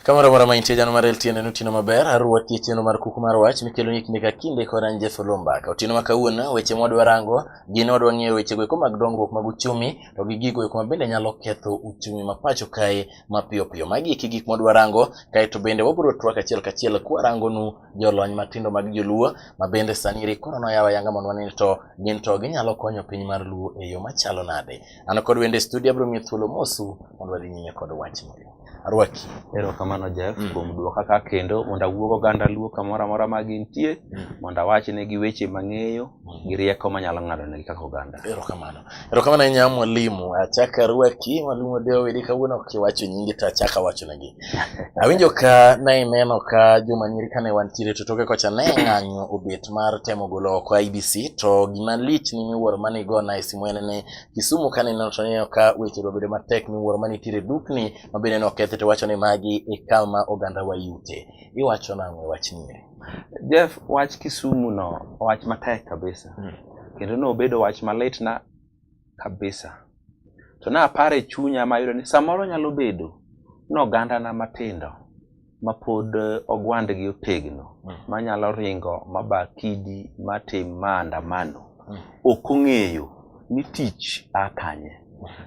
Kamoro amora ma intie jano mar LTN en otieno maber, arwaki e chenro mar kuku mar wach mikelo ni kinde ka kinde kod an Jeff Olomba. Ka otieno ma kawuono weche ma wadwa rango gin wadwa ng'eyo weche go eko mag dongruok mag uchumi to gi gigo eko ma bende nyalo ketho uchumi ma pacho kae mapiyo piyo. Magi eki gik mwadwa rango, kaeto bende wabiro twak achiel kachiel kwarangonu jolony matindo mag joluo ma bende sani ri koro noyaw ayanga mondo wane ni to gin to ginyalo konyo piny mar luo e yo machalo nade. An kod wende studio abiro miyo thuolo mosu mondo wadhi nyime kod wach moro. Arwaki. Erokamano Jeff Mm. kuom duoka ka kendo mondo awuog oganda luo kamoro amora ma gintie Mm. mondo awachnegi weche mang'eyo gi rieko manyalo ng'adonegi kaka oganda. Erokamano. Erokamano ahinya mwalimu. Achak arwaki mwalimu Odeo Wili kawuono kiwacho nyingi to achak awacho negi. Awinjo ka ne ineno ka juma nyiri kane wantiere to toke kocha ne ng'anyo obet mar temo golo oko IBC to gima lich ni miwuoro mane igona e simu en ni Kisumu kane ineno to ineno ka weche obedo matek miwuoro mane nitiere dukni ma bende ne okethi to iwacho ni magi e kama oganda wa yute. Iwacho nang'o e wach nyiri? Jeff, wach Kisumu no wach matek kabisa. kendo nobedo wach malitna kabisa. To ne aparo e chunya ma ayudo ni samoro nyalo bedo ni ogandana matindo mapod eh, ogwandgi otegno Mm. manyalo ringo maba kidi matim ma andamano Mm. ok ong'eyo ni tich a kanye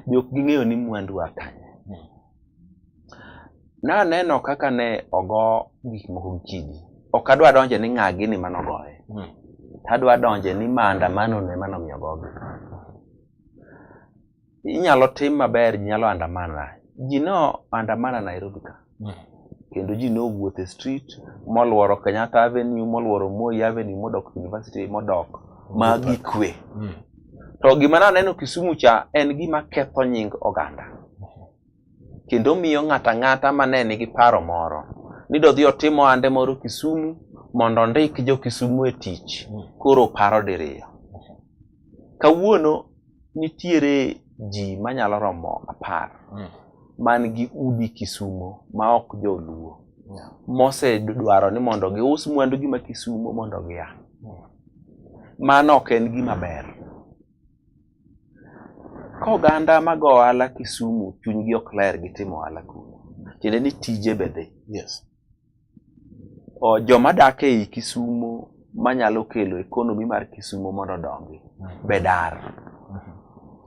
be ok ging'eyo ni mwandu a kanye Naneno kaka ne ogo gik moko gi kidi. Ok adwa donje ni ng'a gini mane ogoye. Hmm. Adwa donje ni maandamano ne mane omiyo ogogi. Inyalo tim maber, ji nyalo andamana. Ji ne andamana Nairobi ka. Hmm. Kendo ji ne owuotho e street, moluoro Kenyatta Avenue, moluoro Moi Avenue, modok University, modok ma gikwe. Hmm. To gima naneno Kisumu cha en gima ketho nying oganda. Kendo miyo ng'ato ang'ata ma ne nigi paro moro ni dodhi otim ohande moro Kisumu mondo ondik jo Kisumu e tich koro paro diriyo. Kawuono nitiere ji manyalo romo apar Mm. man gi udi Kisumo ma ok joluo Yeah. mosedwaro ni mondo gius mwandugi ma Kisumo mondo gia. Mano ok en gima ber. Ka oganda mago ohala Kisumu chunygi ok ler gi timo ohala kuno, tiende ni tije be dhi. Yes. O, joma dak ei Kisumu manyalo kelo ekonomi mar Kisumu mondo odongi be dar.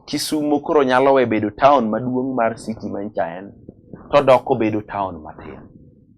Kisumu koro nyalo we bedo taon maduong' mar city ma nyicha en, todok obedo taon matin.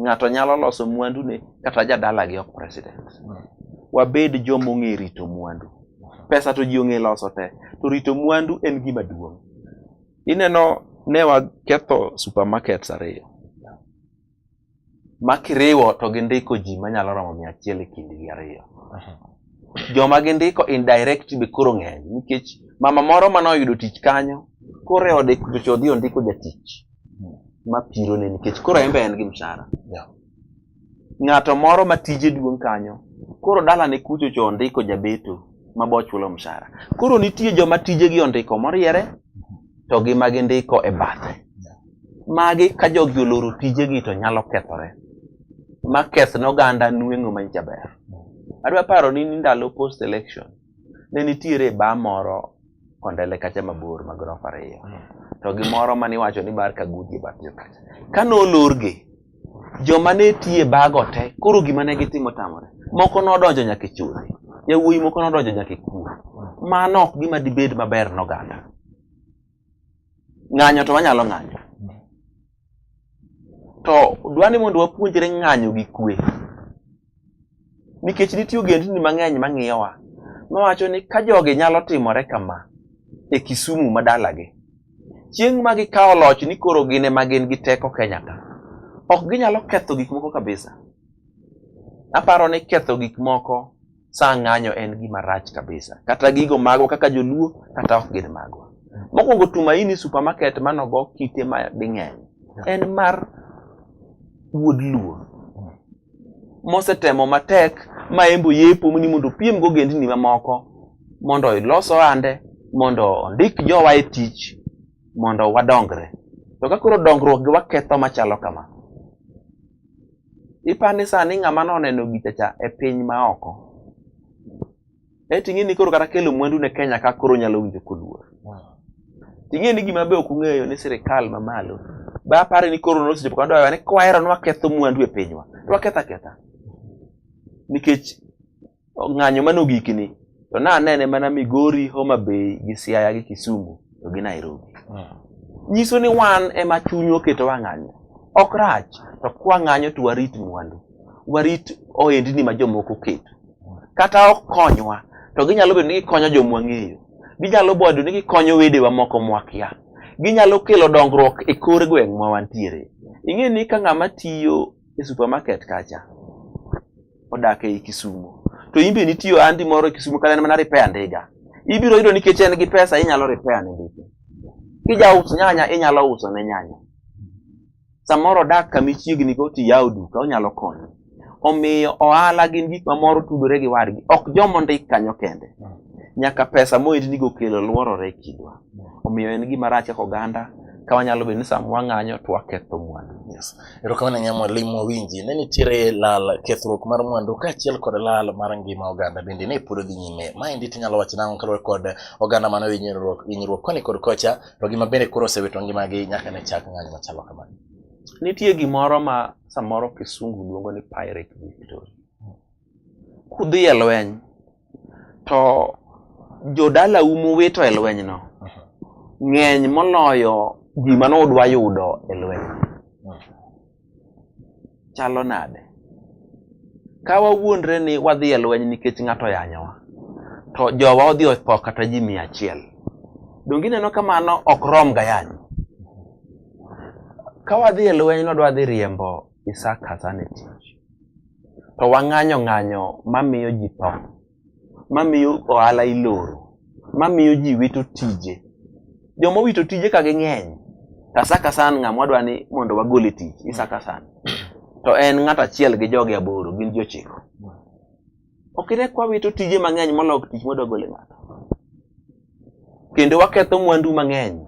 ng'ato nyalo loso mwandune kata jadalagi ok president wabed joma ong'e rito mwandu pesa to ji ong'e loso te to rito mwandu en gima duong' ineno ne waketho supermarkets ariyo ma kiriwo to gindiko ji manyalo romo mia achiel e kindgi ariyo joma gindiko indirect be koro ng'eny nikech mama moro mane oyudo tich kanyo koro e ode kuchocho odhi ondiko jatich hmm. ma pirone nikech koro en be en gi mshahara ng'ato moro ma tije duong' kanyo koro dalane kucho cho ondiko jabeto ma bo chulo mshahara koro nitie joma tijegi ondiko moriere to gi ma gindiko e bathe magi ka jogi oloro tijegi to nyalo kethore ma keth ne oganda nweng'o manjaber adwa paro ni ndalo post election ne nitiere ba moro kondele kacha mabor ma gorofa ariyo mm. to gi moro ma niwacho ni bar kaguji e batyo kacha ka nolorgi joma ne tiye bago te koro gima ne gitimo tamore moko nodonjo nyaka e chudhi yawuoyi moko nodonjo nyaka e kuo mano ok gima dibed maber noganda Ng'anyo to wanyalo ng'anyo. To dwani mondo wapuonjre ng'anyo gi kwe. Nikech nitie ogendni mang'eny mang'iyowa mawacho ni ka jogi nyalo timore kama e Kisumu ma dalagi, chieng' ma gikawo loch ni koro gin ema gin gi teko Kenya ka, ok ginyalo ketho gik moko kabisa. Aparo ni ketho gik moko saa ng'anyo en gima rach kabisa kata gigo magwa kaka joluo kata ok gin magwa mokwongo tumaini supermarket manogo kite ma ding'eny en mar wuod luo mosetemo matek ma embo yepo ni mondo opiem go gendni mamoko mondo ilos ohande mondo ondik jowa e tich mondo wadongre to ka koro dongruok gi waketho machalo kama Ipani sani ng'ama noneno gicha cha e piny ma oko. E ting'e ni koro kata kelo mwandu ne Kenya ka koro nyalo winjo koluor. Ting'e ni gima be ok ung'eyo ni sirikal ma malo. Ba pare ni koro nosechopo kama dwawa ni kwahero ni waketho mwandu e pinywa. To waketho aketha. Nikech ng'anyo mane ogikni to ne anene mana Migori, Homa Bay gi Siaya gi Kisumu to gi Nairobi. Nyiso ni wan ema chuny oketo wang'anyo. Ok rach to kwang'anyo to warit mwandu, warit ohendni ma jomoko oketo. Kata ok konywa to ginyalo bedo ni gikonyo joma wang'eyo. Ginyalo bedo ni gikonyo wedewa moko mwakia. Ginyalo kelo dongruok e kor gweng' ma wantiere. Ing'e ni ka ng'ama tiyo e supermarket kacha, odak ei Kisumo. To in be nitie ohandi moro e Kisumo kata en mana repair ndiga. Ibiro yudo nikech en gi pesa inyalo repair ne ndiga. Kijaus nyanya inyalo uso ne nyanya. Samoro odak kama ichiegni go to iyawo duka onyalo konyo. Omiyo ohala gin gik mamoro tudore gi wadgi. Ok joma ondik kanyo kende. Nyaka pesa moitnigo kelo luorore e kindwa. Omiyo en gima rach kaka oganda ka wanyalo bedo ni sama wang'anyo to waketho mwandu. Erokamano nya mwalimu Winji, ne nitiere lal kethruok mar mwandu kaachiel kod lal mar ngima oganda bende ne pod dhi nyime. Maendi tinyalo wacho nang'o kaluwore kod oganda mano hinyruok hinyruok koni kod kocha to gima bende koro osewito ngimagi nyaka ne chak ng'anyo machalo kamano. Nitie gimoro ma samoro kisungu luongo ni pirate victory. kudhi e lweny to jodalau muwito e lwenyno ng'eny moloyo gima nudwa yudo e lweny chalo nade ka wawuondre ni wadhi e lweny nikech ng'ato yanyowa to jowa odhi otho kata ji mia achiel donge ineno ka mano ok rom ga yany ka wadhi e lweny nodwa dhi riembo Isaac Hassan e tich. To wang'anyo ng'anyo mamiyo ji tho, mamiyo ohala iloro, mamiyo ji wito tije. Joma owito tije ka ging'eny, to Isaac Hassan ng'ama wadwa ni mondo wagol e tich, Isaac Hassan. To en ng'at achiel gi joge aboro, gin ji ochiko. ok ine kwa wito tije mang'eny moloyo tich mwadwa gole ng'ato kendo waketho mwandu mang'eny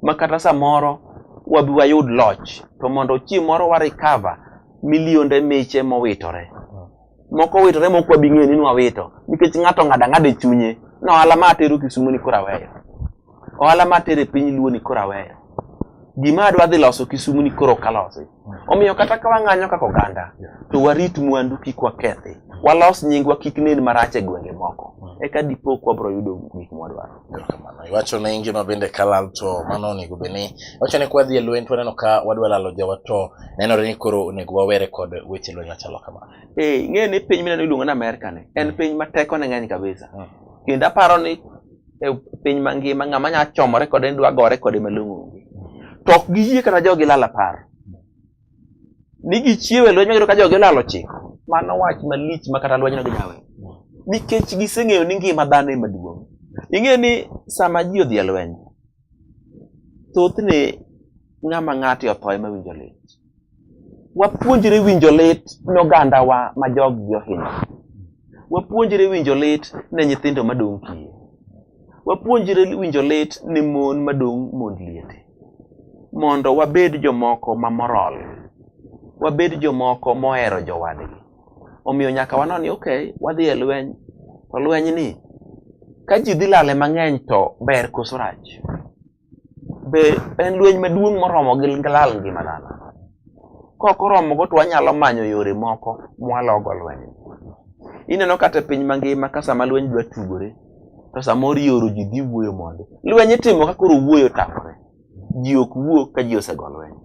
ma kata samoro wabi wayud loch to mondo chieng' moro wa recover milionde miche mowitore moko witore moko wabi ng'eyo ni nwawito nikech ng'ato ng'ada ng'ada e chunye ni ohala ma atero Kisumu ni koro aweyo ohala ma atere piny luo ni koro aweyo gima adwa dhi loso kisumu ni koro kalosi omiyo kata ka wang'anyo kaka oganda to warit mwandu kik wakethi walos nyingwa kik nen marach e gwenge moko eka dipo ka wabiro yudo gik mwadwaro Erokamano. Iwacho ni ngima bende kalal to mano onego bed ni iwacho ni kwa dhi e lweny to waneno ka wadwa lalo jawa to nenore ni koro onego wawere kod weche lweny machalo kamano. Eh, ing'eyo ni piny mineno iluongo ni Amerka ni en piny ma tekone ng'eny kabisa. Mm. Kendo aparo ni e piny mangima ng'ama nya chomore kode ni dwa gore kode malong'o onge to ok giyie kata jogi lal apar ni gichiewe lweny magiro ka jogi lalo chik mano wach malich ma kata lwenyno ginyawe nikech giseng'eyo ni ngima dhano ema duong' ing'eyo ni sama ji odhi e lweny thothne ng'ama ng'ate otho ema winjo lit wapuonjre winjo lit ne ogandawa ma joggi ohinyo wapuonjre winjo lit ne nyithindo madong' kiye wapuonjre winjo lit ne mon madong' mond liete mondo wabed jomoko ma moral wabed jomoko mohero jowadgi Omiyo nyaka wanon ni okay, wadhi e lweny. To lweny ni ka ji dhi lale mang'eny to ber koso rach? Be en lweny maduong' moromo gi lal ngima dhano? Kok oromogo to wanyalo manyo yore moko mwalogo lweny. Ineno kata e piny mangima ka sama lweny dwa tugore to samoro ioro ji dhi wuoyo mondi. Lweny itimo ka koro wuoyo otamore. ji ok wuo ka ji osego lweny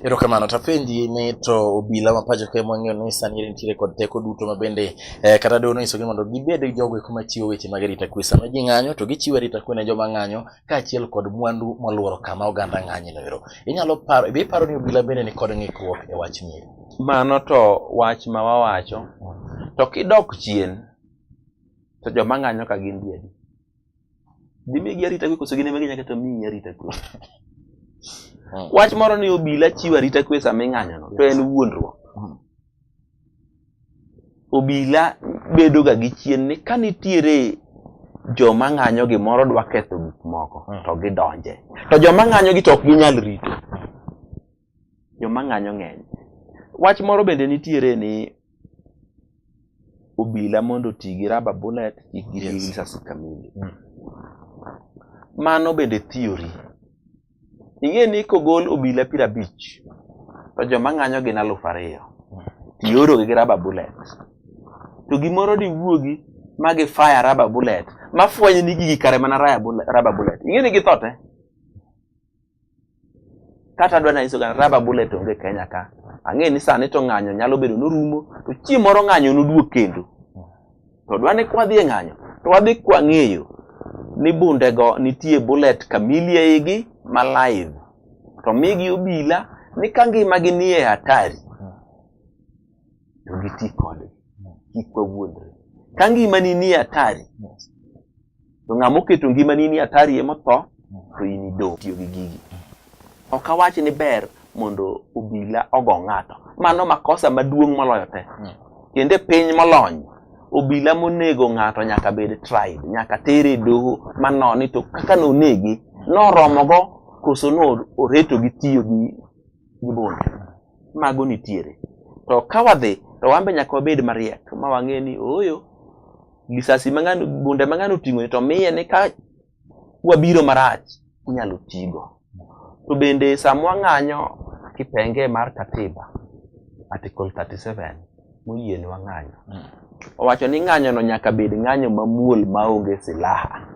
erokamano to apenji ni to obila ma pacho kae mwang'eyo ni sani nitiere kod teko duto ma bende eh, kata dono nyisogi mondo gibed jogo eko machiwo weche mag arita kwe sama ji ng'anyo to gichiwo arita kwe ne joma ng'anyo kaachiel kod mwandu molworo kama oganda ng'anye no ero inyalo paro be iparo ni obila bende ni kod ng'ikruok e wach mieri mano to wach ma wawacho to kidok chien to joma ng'anyo ka gin diedi Gimigi arita kwe koso gin ema ginyaka to miyi arita kwe. Hmm. Wach moro ni obila chiwo arita kwe sama ing'anyono to en wuondruok. Hmm. Obila bedoga gi chien ni ka nitiere joma ng'anyo gimoro dwa ketho gik moko hmm. to gidonje. To joma ng'anyo gi to ok ginyal rito. Joma ng'anyo ng'eny. Wach moro bende nitiere ni obila mondo oti gi raba bullet kik giti gi risasi kamili. Mm. Mano bende theory. Ing'e ni kogol obila piero abich to joma ng'anyo gin aluf ariyo. Mm. Tiorogi gi raba bullet. To gimoro diwuogi ma gi fire raba bullet ma fwenyo ni gigi kare mana raba bullet. Ing'e ni githo te. kata adwa nanyiso gana raba bullet onge kenya ka ang'e ni sani to ng'anyo nyalo bedo norumo to chieng' moro ng'anyo noduog kendo to dwa ni kwadhi e ng'anyo to wadhi kwang'eyo ni bundego nitie bullet kamili eigi ma live to migi obila ni ka ngimagi nie hatari to giti kodgi kik wawuondre ka ngimani nie hatari to ng'ama oketo ngimani ni atari ema tho to in idong' tiyo gi gigi ok awach ni ber mondo obila ogo ng'ato mano makosa maduong' moloyo te kendo e piny molony obila monego ng'ato nyaka bed tried nyaka tere e doho manoni to kaka nonegi noromogo koso no oreto gi tiyo gi gi bunde mago nitiere to ka wadhi to wan be nyaka wabed mariek ma wang'e ni ooyo gisasi ma ng'ano bunde ma ng'ano oting'o ni to miye ni ka wabiro marach inyalo tigo to bende sama wang'anyo kipenge mar katiba article 37 moyie ni wang'anyo mm. owacho ni ng'anyono nyaka bed ng'anyo mamuol maonge silaha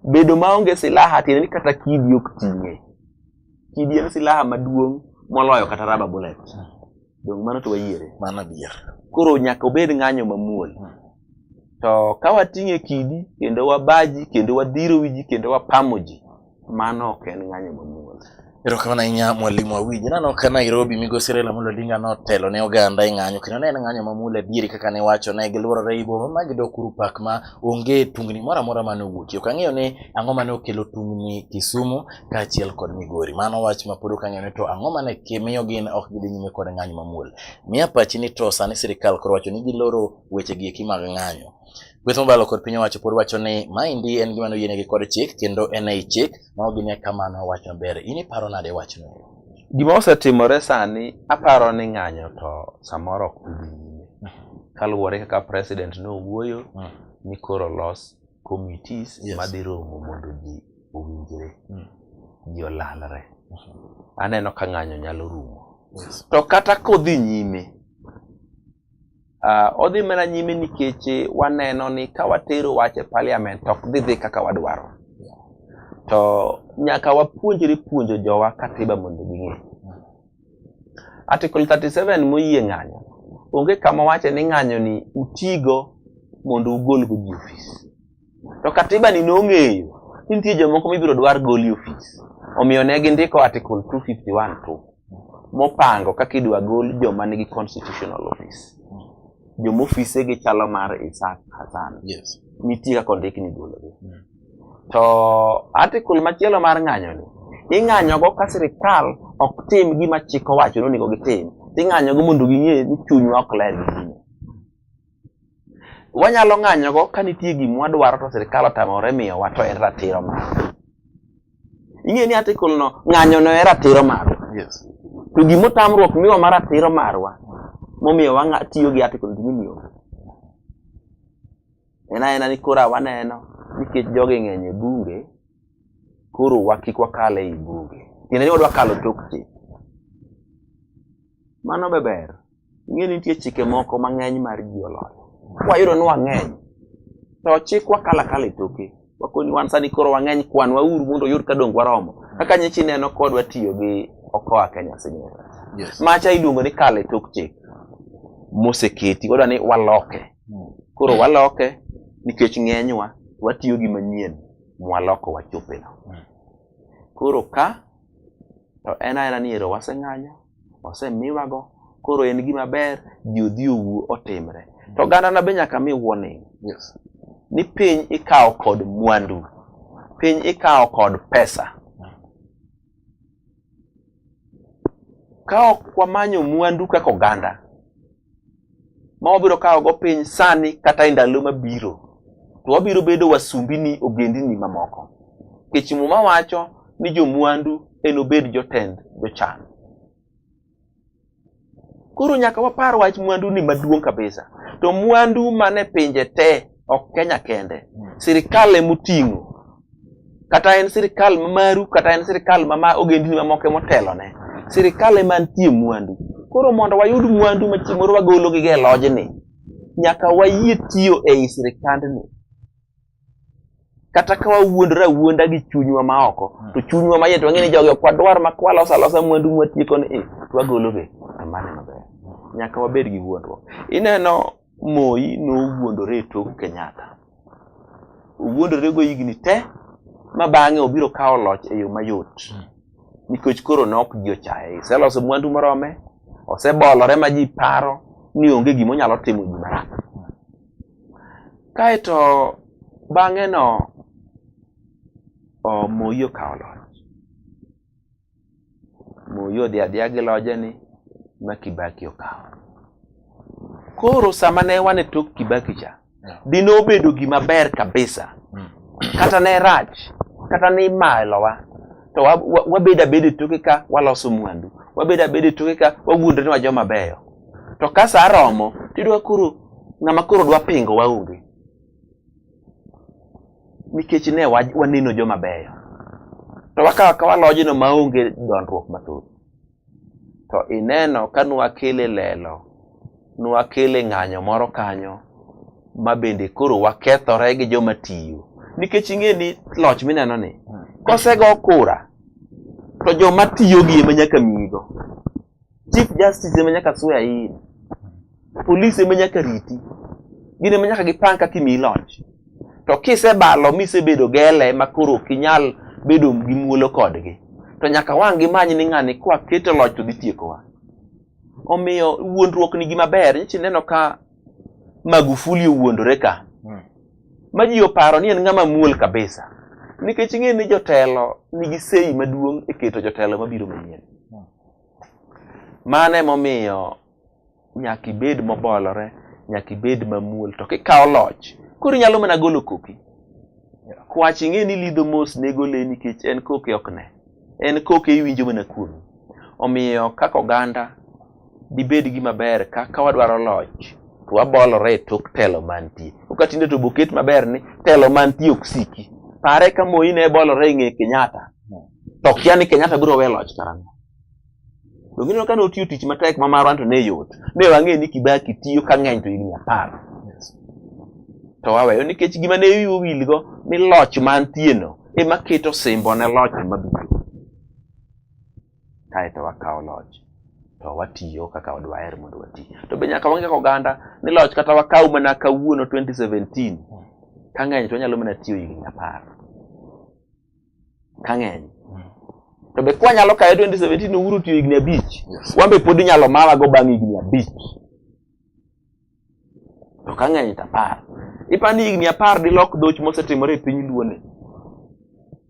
Bedo maonge silaha tiende ni kata kidi ok ting'e. Kidi en silaha maduong' moloyo kata raba bullet. Donge mano to wayiere? Mano adier. Koro nyaka obed ng'anyo mamuol. To ka wating'e kidi kendo wabaji kendo wadhiro wiji kendo wapamo ji, Mano ok en ng'anyo mamuol. Erokamano ahinya mwalimu Awinyi. Naneno ka Nairobi migosi Raila Amolo Odinga notelo ne oganda e ng'anyo kendo ne en ng'anyo mamuol adieri kaka ne wacho ne gilworore i boma ma gidok kuru pak ma onge tungni moro amora mane owuokie. Ok ang'eyo ni ang'o mane okelo tungni Kisumu kaachiel kod Migori. Mano wach ma pod ok ang'eyo ni to ang'o mane miyo gin ok gidhi nyime kod ng'anyo mamuol. Miya pachi ni to sani sirikal koro wacho ni giloro weche gi eki mag ng'anyo. Kweth mobalo kod piny owacho pod wacho ni maendi en gima noyienegi kod chik kendo en ei chik ma ok gine ka mano wach maber. In iparo nade wachno? Gima osetimore sani aparo ni ng'anyo to samoro ok dhi nyime kaluwore kaka president nowuoyo mm. ni koro los committees yes. madhi romo mondo ji owinjre mm. ji olalre mm -hmm. aneno ka ng'anyo nyalo rumo yes. to kata kodhi nyime Uh, odhi mana nyime nikech waneno ni ka watero wach e parliament ok dhi dhi kaka wadwaro to nyaka wapuonjre puonjo jowa katiba mondo ging'e article 37 moyie ng'anyo onge kama wache ni ng'anyo ni utigo mondo ugol go ji ofis To katiba ni nong'eyo ni nitie jomoko mibiro dwar goli ofis. Omiyo ne gindiko Article 251 tu mopango kaka idwa gol joma nigi constitutional office. Joma ofise gi chalo mar Isaac Hassan. Yes. Nitie kaka ondik ni gologi. Mm. To article machielo mar ng'anyo ni ing'anyogo ka sirikal ok tim gima chik owacho ni onego gitim. Ing'anyogo mondo ging'e ni chunywa ok ler gi Wanyalo ng'anyogo ka nitie gima wadwaro to sirkal otamore miyowa to en ratiro marwa. Ing'eyo ni article no ng'anyono en ratiro marwa. Yes. To gima otamruok miwa ma ratiro marwa momiyo wang'a tiyo gi article ni gini onge. En aena ni koro waneno nikech jogi ng'eny e bunge koro wa kik wakal ei bunge. Tiende ni wadwa kalo tok chik. Mano be ber. ing'e ni nitie chike moko mang'eny mar ji oloyo wayudo ni wang'eny to chikwa kalakala e toke wakoni wan sani koro wang'eny kwan wauru mondo oyud ka donge waromo kaka nyichi neno kodwa tiyo gi okoa kenya signature Yes. macha iluongo ni kale e tok chik moseketi wadwa ni waloke koro waloke nikech ng'enywa watiyo gi manyien mwaloko wachopeno koro ka to en aena ni ero waseng'anyo osemiwago koro en gima ber ji odhi owuo otimre to ogandana be nyaka mi warning yes. ni piny ikawo kod mwandu piny ikawo kod pesa ka ok wamanyo mwandu kaka oganda ma wabiro kawogo piny sani kata e ndalo mabiro to wabiro bedo wasumbini ogendini mamoko nikech muma wacho ni jomwandu enobed jotend jochan koro nyaka wapar wach mwanduni maduong' kabisa to mwandu mane pinje te ok Kenya kende. Sirkal emoting'o. Kata en sirkal ma maru, kata en sirkal ma ma ogendini mamoko emotelone. Sirkal ema nitie mwandu. Koro mondo wayud mwandu ma chieng' moro wagolo gi e lojni, nyaka wayie tiyo ei sirkandni. Kata ka wawuondore awuonda gi chunywa ma oko, to chunywa ma iye to wang'e ni jogi ok wadwar ma kwaloso alosa mwandu mwatiekoni, to wagologi. Amane maber. Nyaka wabed gi wuondruok. Ineno Moi nowuondore e tok Kenyatta. Owuondore go higni te ma bang'e obiro kawo loch e yo mayot. Hmm. Nikech koro ne ok ji ochaye. Oseloso mwandu morome, osebolore ma ji paro ni onge gima onyalo timo ji marach. Kaeto bang'e no Moi okawo loch. Moi odhi adhiya gi loje ni ma Kibaki okawo. Koro sama ne wane tok Kibaki cha, dine obedo gima ber kabisa hmm. kata ne rach kata ne imalowa to wabedo abeda toke ka waloso mwandu wabedo abeda toke ka wawuondre ni wajoma beyo to ka saa romo tidwa koro ng'ama koro dwa pingo waonge nikech ne waneno joma beyo to wakawo akawa lojno maonge dondruok mathoth to ineno ka nwakele lelo nwakele ng'anyo moro kanyo ma bende koro wakethore gi joma tiyo nikech ing'e ni loch mineno ni kosego kura to joma tiyo gi ema nyaka miyigo chief justice ema nyaka swear in police ema nyaka riti gin ema nyaka gipang kaka imiyi loch to kisebalo misebedo gele ma koro ok inyal bedo gi muolo kodgi to nyaka wang' gimany ni ng'ani kwa keto loch to dhi tiekowa omiyo wuondruok ni gima ber nyichi neno ka magufuli owuondore ka hmm. ma ji oparo ni en ng'ama muol kabisa nikech ing'e ni jotelo nigi sei maduong' e keto jotelo mabiro manyien Mano emomiyo nyaka ibed mobolore, nyaka ibed mamuol to kikawo loch koro inyalo mana golo koki. Kwach ing'e ni lidho mos nego le nikech en koke ok ne. En koke iwinjo mana kuome. Omiyo kaka oganda dibed gima ber ka ka wadwaro loch to wabolore e tok telo mantie. Ka tinde to boket maber ni telo mantie ok siki. Pare ka Moi ne bolore e ng'e Kenyatta. to kia ni Kenyatta biro we loch karang'o. Donge ineno ka notiyo tich matek ma marwa to ne yot. Ne wang'e ni Kibaki tiyo ka ng'eny to higni apar. To waweyo nikech gima ne wiwa wilgo ni loch mantieno ema keto simbo ne loch mabiro. Kaeto wakawo loch to watiyo kaka wadwaher mondo wati. To be nyaka wang'e oganda ni loch kata wakaw mana kawuono 2017 ka ng'eny to wanyalo mana tiyo higni apar. kang'eny to be kwa nyalo kaye 2017 to uru tiyo higni abich wan be pod inyalo mawa go bang' higni abich to kang'eny to apar ipani higni apar dilok doch mosetimore e piny luone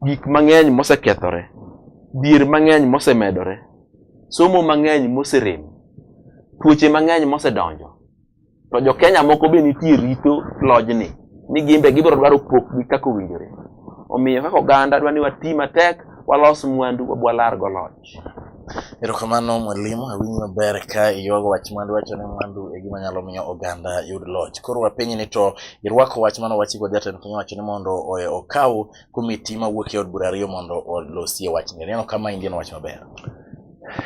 gik mang'eny mosekethore dhier mang'eny mosemedore somo mang'eny moserem tuoche mang'eny mosedonjo to jo Kenya moko be nitie rito lojni ni gimbe gibiro dwaro pokgi kaka owinjore. Omiyo kaka oganda dwa ni wati matek walos mwandu walar go loch. Erokamano mwalimu, awinjo maber ka iywago wach mwandu, iwacho ni mwandu e gima nyalo miyo oganda yud loch. Koro wapenji ni to irwako wach mane owachi kod jatend piny owacho ni mondo okaw komiti mawuok e od bura ariyo mondo olosie wachni. Ineno kama in gi wach maber.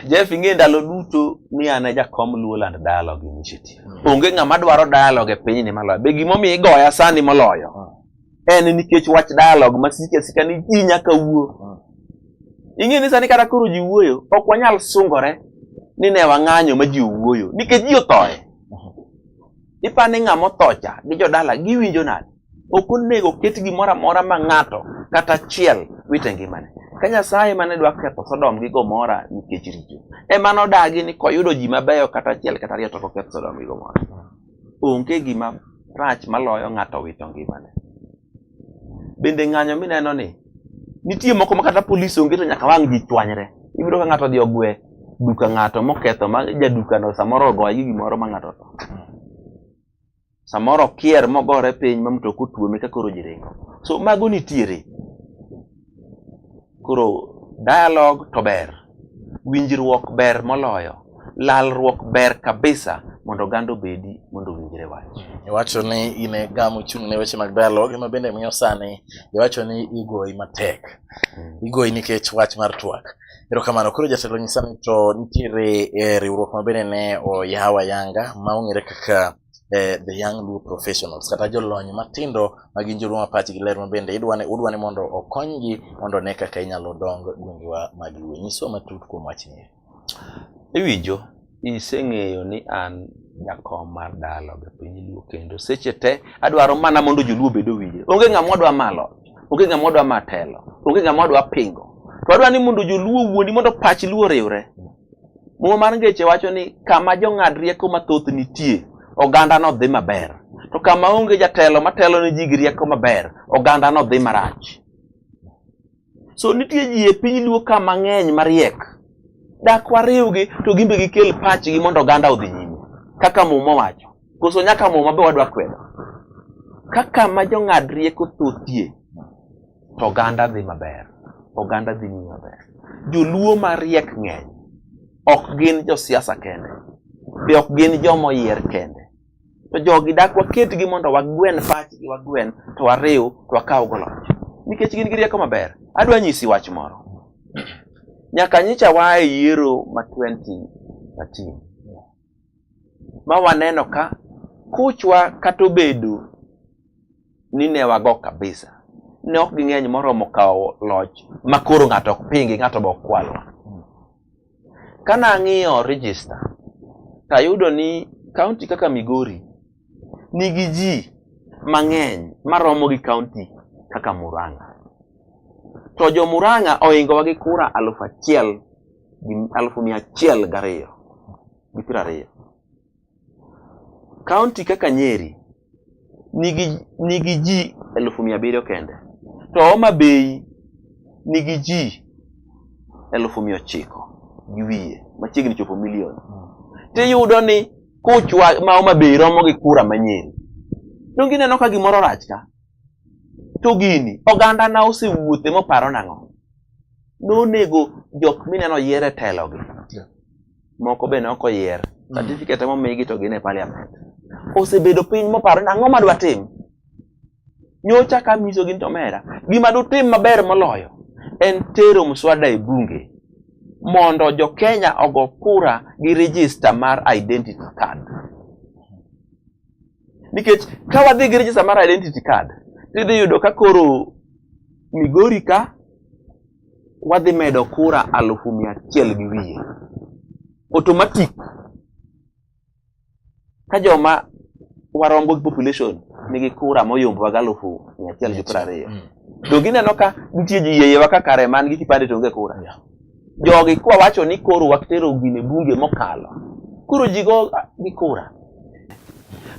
Jeff ing'e ndalo duto ni an e jakom Luoland Dialogue Initiative. Onge ng'ama dwaro dialogue e pinyni maloyo. Be gimomiyo igoya sani moloyo? Ah. En nikech wach dialogue ma sike sika ni ji nyaka wuo. Ah. Ing'e ni sani kata koro ji wuoyo, ok wanyal sungore ni ne wang'anyo ma ji owuoyo nikech ji othoe. Ah. Ipa ni ng'ama othocha gi jodala giwinjo nade? Ok onego ket gimoro amora ma ng'ato kata achiel wite ngimane. Ka Nyasaye mane dwa ketho Sodom gi Gomora nikech richo, ema nodagi ni koyudo ji mabeyo kata achiel kata ariyo to koketh Sodom gi Gomora. Onge gima rach maloyo ng'ato wito ngimane. Bende ng'anyo mineno ni nitie moko ma kata polis onge to nyaka wang' ji chwanyre. Ibiro ka ng'ato odhi ogwe duka ng'ato moketho ma jadukano samoro ogoye gi gimoro ma ng'ato otho. samoro kier mogore piny ma mtoka otuome ka koro ji ringo so mago nitiere koro dialogue to ber winjruok ber moloyo lalruok ber kabisa mondo oganda obedi mondo owinjre wach iwacho ni in e gamo chung' ne weche mag dialogue ema bende miyo sani iwacho ni igoyi matek hmm. igoyi nikech wach mar twak Erokamano. Koro jatelo nyisa ni to nitiere eh, riwruok ma bende ne oyaw ayanga ma ong'ere kaka eh, the young Luo professionals kata jolony matindo ma gin joluo ma pachgi ler ma bende idwa ni udwa ni mondo okonygi mondo ne kaka inyalo dong gwengewa mag Luo. Nyiswa matut kuom wachni. Iwinjo? iseng'eyo ni an jakom mar dalo gi piny luo kendo seche te adwaro mana mondo joluo bedo winje onge ng'ama odwa malo onge ng'ama odwa matelo onge ng'ama odwa pingo to adwa ni mondo joluo wuondi mondo pach luo riwre muma mar ngeche wacho ni kama jong'ad rieko mathoth nitie oganda no dhi maber to kama onge jatelo matelo ne ji gi rieko maber oganda no dhi marach so nitie ji e piny luo ka mang'eny mariek dak wariwgi to gimbe gikel pachgi mondo oganda odhi nyime kaka muma wacho koso nyaka muma be wadwa kwedo kaka ma jong'ad rieko thothie to oganda dhi maber oganda dhi nyime maber joluo mariek ng'eny ok gin josiasa kende be ok gin joma oyier kende to jogi dak waketgi mondo wagwen pachgi wagwen to wariw to wakaw goloch nikech gin gi rieko maber adwa nyisi wach moro nyaka nyicha waa e yiero ma 2013 ma waneno ka kuchwa kata obedo ni ne wago kabisa ne ok ging'eny moromo kawo loch ma koro ng'ato ok pingi ng'ato be ok kwalwa Kana ng'iyo register tayudo ni kaunti kaka Migori nigi ji mang'eny maromo gi kaunti kaka Murang'a. To jo Murang'a ohingowa gi kura aluf achiel gi aluf mia achiel gariyo gi piero ariyo. Kaunti kaka Nyeri nigi nigi ji elufu mia abiriyo kende to Homa Bay nigi ji elufu mia ochiko gi wiye machiegni chopo milion hmm. tiyudo ni kuchwa ma Homa Bay romo gi kura ma Nyeri donge ineno ka gimoro rach ka to gini oganda na osewuothe moparo nang'o nonego jok mineno yiere telogi moko be noko yier mm. certificate mo migi to gine parliament osebedo piny moparo ni ang'o madwa tim nyocha ka miso gin to mera gima dutim maber moloyo en tero mswada e bunge mondo jo Kenya ogo kura gi register mar identity card nikech ka wadhi gi register mar identity card tidhi yudo ka koro Migori ka wadhi medo kura alufu mia achiel gi wiye automatic ka joma warombo gi population nigi kura moyombowa gi alufu mia achiel gi piero ariyo mm. to gineno ka nitie ji yeyewa ka kare man gi kipande to onge kura jogi kwawacho ni koro watero gine bunge mokalo koro jigo gi kura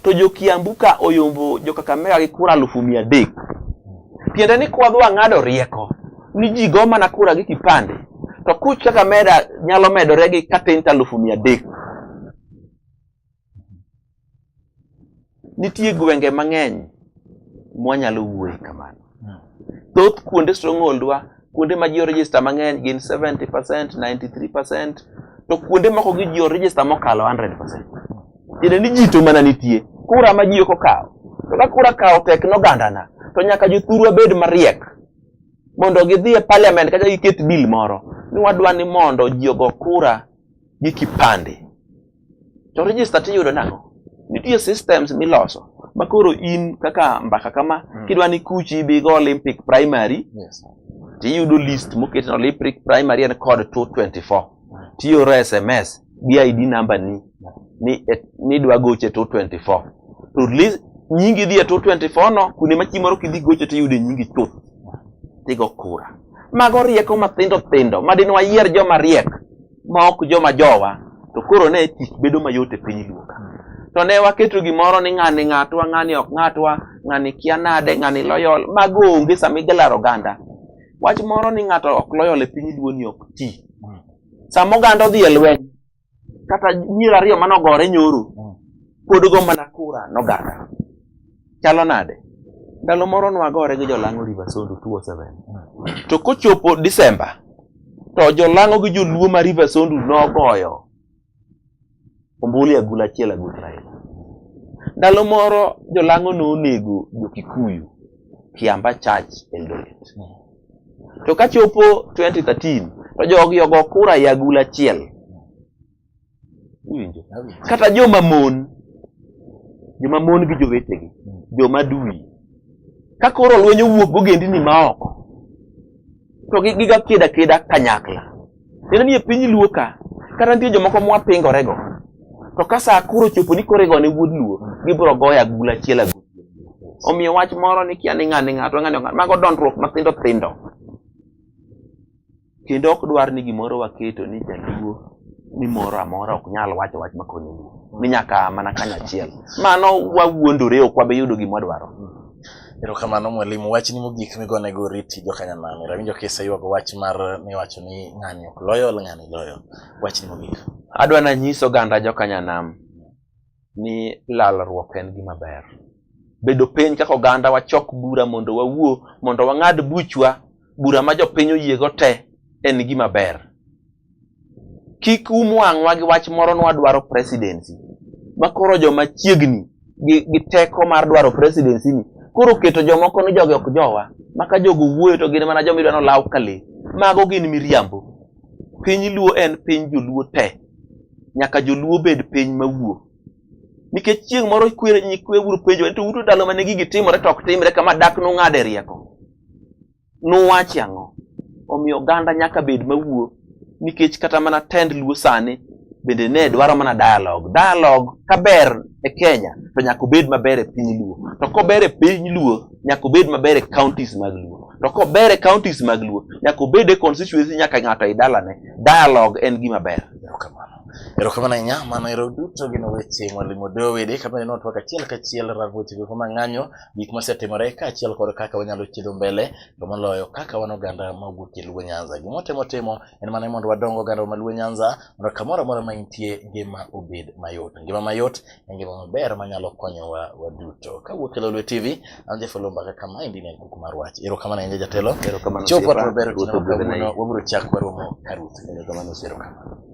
to jo Kiambu ka oyombo jo Kakamega gi kura alufu mia adek. Tiende ni kwadho ang'ado rieko ni ji go mana kura gi kipande to kuch kaka meda nyalo medore gi katent alufu mia adek. Nitie gwenge mang'eny mwanyalo wuoye kamano. Thoth kuonde stronghold wa, kuonde ma ji register mang'eny gin 70%, 93%, to kuonde moko gi ji register mokalo 100%. Tiende ni ji to mana nitie. Kura ma ji ok okawo. To ka kura kawo tek nogandana, to nyaka jothurwa bed mariek mondo gidhi e parliament kata giket bill moro ni wadwa ni mondo ji ogo kura gi kipande. to register tiyudo nang'o nitie systems miloso ma koro in kaka mbaka kama mm. kidwa ni kuchi ibi go olympic primary yes. tiyudo list moket na olympic primary en code 224 mm. tiyoro sms gi id number ni ni, et, ni dwa goche 224 to list nyingi dhi e 224 no kuonde ma chimoro kidhi goche tiyude nyingi chuth tigo kura mago rieko mathindo thindo madinwa yier joma riek ma ok joma jowa to koro ne tich bedo mayot e piny luo ka to ne waketo gimoro ni ng'ani ng'atwa ng'ani ok ng'atwa ng'ani kia nade ng'ani loyol mago onge sama igalaro oganda wach moro ni ng'ato ok loyol e piny luo ni ok ti sama oganda odhi e lweny kata nyiri ariyo manogore nyoro pod go mana kura noganda chalo nade ndalo moro nwagore gi jolang'o river sondu 27 to kochopo disemba to jolang'o gi joluo ma river sondu nogoyo ombuli agula achiel agul raila ndalo moro jolang'o nonego jokikuyu kiamba church eldoret to kachopo 2013 to jogi ogo kura ya agula achiel iwinjo kata joma mon joma mon gi jowetegi joma dui ka koro lweny owuok gogendini ma oko to giga keda keda kanyakla neno ni e piny luo ka kata nitie jomoko mwapingorego to ka sa koro chopo ni koro igone wuod luo gibiro goyo agul achiel agul omiyo wach moro ni kia ni ng'ani ng'ato ng'ani mago dondruok mathindo thindo Kendo ok dwar ni gimoro waketo ni jaluo ni moro amora ok nyal wacho wach makonyo luo. Ni nyaka mana kanyo achiel. Mano wawuondore ok wabe yudo gima wadwaro. Erokamano mwalimu, wachni mogik migone go oriti jo Kanyamani. Rawinjo kisa yuago wach mar miwacho ni ng'ani ok loyo, ng'ani loyo. Wachni mogik. Adwa nanyiso ganda jo Kanyanam ni lalruok en gima ber bedo piny kaka oganda wachok bura mondo wawuo mondo wang'ad buchwa bura ma jopiny oyiego te en gima ber kik um wang'wa gi wach moro ni wadwaro presidency ma koro joma chiegni gi, gi teko mar dwaro presidency ni koro keto jomoko ni jogi ok jowa maka jogo wuoyo to gin mana joma idwa nolaw ka le mago gin miriambo Piny Luo en piny joluo te. Nyaka joluo bed piny mawuo. Nikech chieng' moro kwere nyikwe uru penjo ni to uto ndalo mane gigi timore to ok timre kama dak nung'ade rieko. Nuwachi ang'o? Omiyo oganda nyaka bed mawuo nikech kata mana tend luo sani bende ne dwaro mana dialogue. Dialogue kaber e Kenya to nyaka obed maber e piny luo. To kober e piny luo nyaka obed maber e counties mag Luo. To kober e counties mag Luo, nyaka obed e constituency nyaka ng'ato e dalane. Dialogue en gima ber. Erokamano. Erokamano ahinya, mano ero duto gin weche Mwalimu Dowedi kama neno twak achiel kachiel rang weche go kama ng'anyo gik mosetimore kaachiel kod kaka wanyalo chido mbele to moloyo kaka wan oganda ma wuok e Luo Nyanza. Gima watemo timo en mana mondo wadong oganda ma Luo Nyanza mondo kamoro amora ma intie ngima obed mayot. Ngima mayot e ngima maber manyalo konyowa waduto. Kawuok e Lolwe TV, an Jafo Lomba kaka maendi ne en Kuku mar Wach. Erokamano ahinya jatelo. Erokamano Chopo Sira. maber Ruoth otieno ogwedhi na kawuono, wabiro chak waromo ka Ruth. Erokamano Sira. Erokamano.